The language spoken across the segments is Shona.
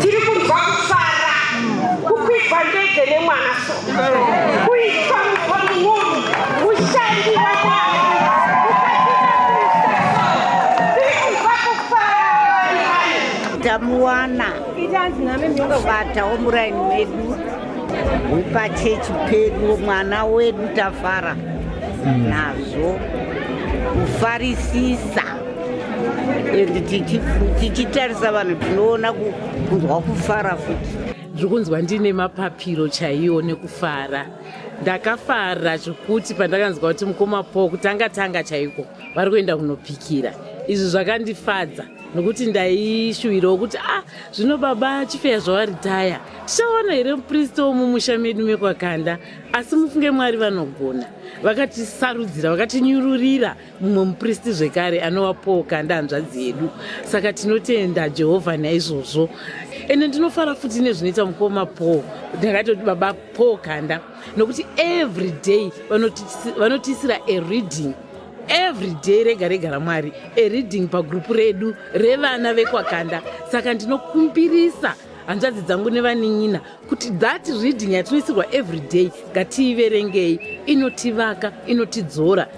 Tiri kunzwa kufara kukwigwa ndege nemwana so kuitwa muponunuru mushandi wamwana tamuwana vatawo muraini medu wepachechi pedu mwana wedu tafara nazvo kufarisisa and tichitarisa vanhu tinoona kunzwa kufara futi zvikunzwa ndiine mapapiro chaiwo nekufara ndakafara zvekuti pandakanzwa kuti mukoma po kutanga tanga chaiko vari kuenda kunopikira izvi zvakandifadza nokuti ndaishuwirawo kuti ah zvino baba chifeya zvavaritaya tichawana here mupristo womumusha medu mekwakanda asi mufunge mwari vanogona vakatisarudzira vakatinyururira mumwe mupristi zvekare anova paul kanda hanzvadzi yedu saka tinotenda jehovha naizvozvo ende ndinofara futi nezvinoita mukoma paul ndakatoti baba paul kanda nokuti every day vanotiisira a reading every day rega rega ramwari a reading pagrupu redu revana vekwakanda saka ndinokumbirisa hanzvadzi dzangu nevanin'ina kuti that reading yatinoisirwa every day ngatiiverengei inotivaka inotidzora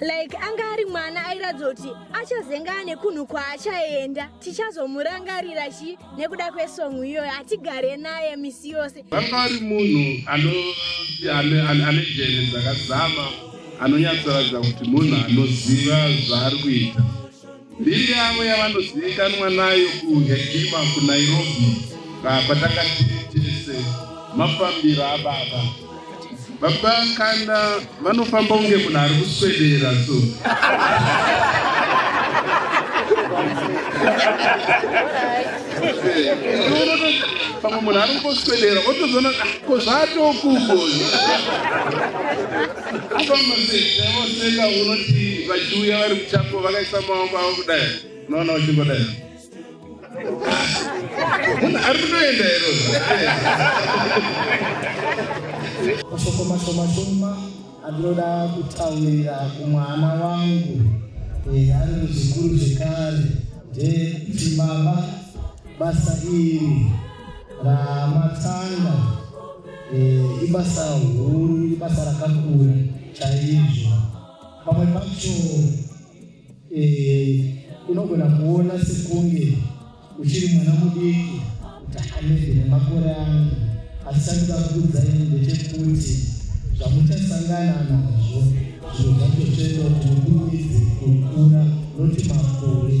like anga ari mwana airatidza kuti achazengana nekunhu kwaachaenda tichazomurangarira chi nekuda kwesongu iyoyo hatigare naye misi yose vanga ari munhu ane jene dzakazama anonyatsoratidza kuti munhu anoziva zvaari kuita Mbiri yavo yavanozivikanwa nayo kuHegima kuNairobi kwatanga tiri tese mafambiro ababa baba kana vanofamba kunge munhu ari kuswedera so pamwe munhu ari kungoswedera otozoona ko zvatokugoni Seka unoti vachiuya vari muchapo vakaisa maoko avo kudai unoona uchingodai munhu ari kutoenda iro mashoko mashoma shoma andinoda kutaurira kumwana wangu eh, ari muzvikuru zvekare ndekuti baba basa iri ramatanga Eh, ibasa huru ibasa rakakura chaizvo pamwe pacho eh, unogona kuona sekunge uchiri mwana mudiki takanezi nemakore angu asi chandoda kuudzai ndechekuti zvamuchasangana nazvo zvinhu zvacho chete kuti mukurumidze kukura noti makore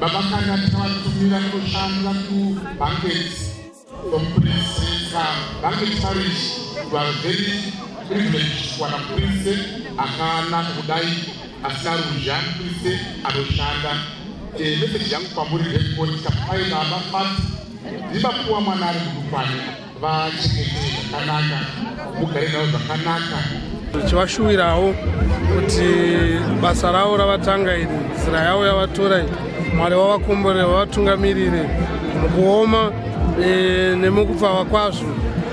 babakanga tavatumira kushanda kubanket omupriseka banket parish were very privilege kuwana prise akanaka kudai asina ruzha prise anoshanda eh, meseji yangu kwamuri rekoti kapai baba fat Imba kuwa mwana ari mudukwane vachengete zvakanaka mugare navo zvakanaka tichivashuvirawo kuti basa ravo ravatanga iri nzira yavo yavatora iyi mwari wavakomborere vavatungamirire mukuoma e, nemukupfava kwazvo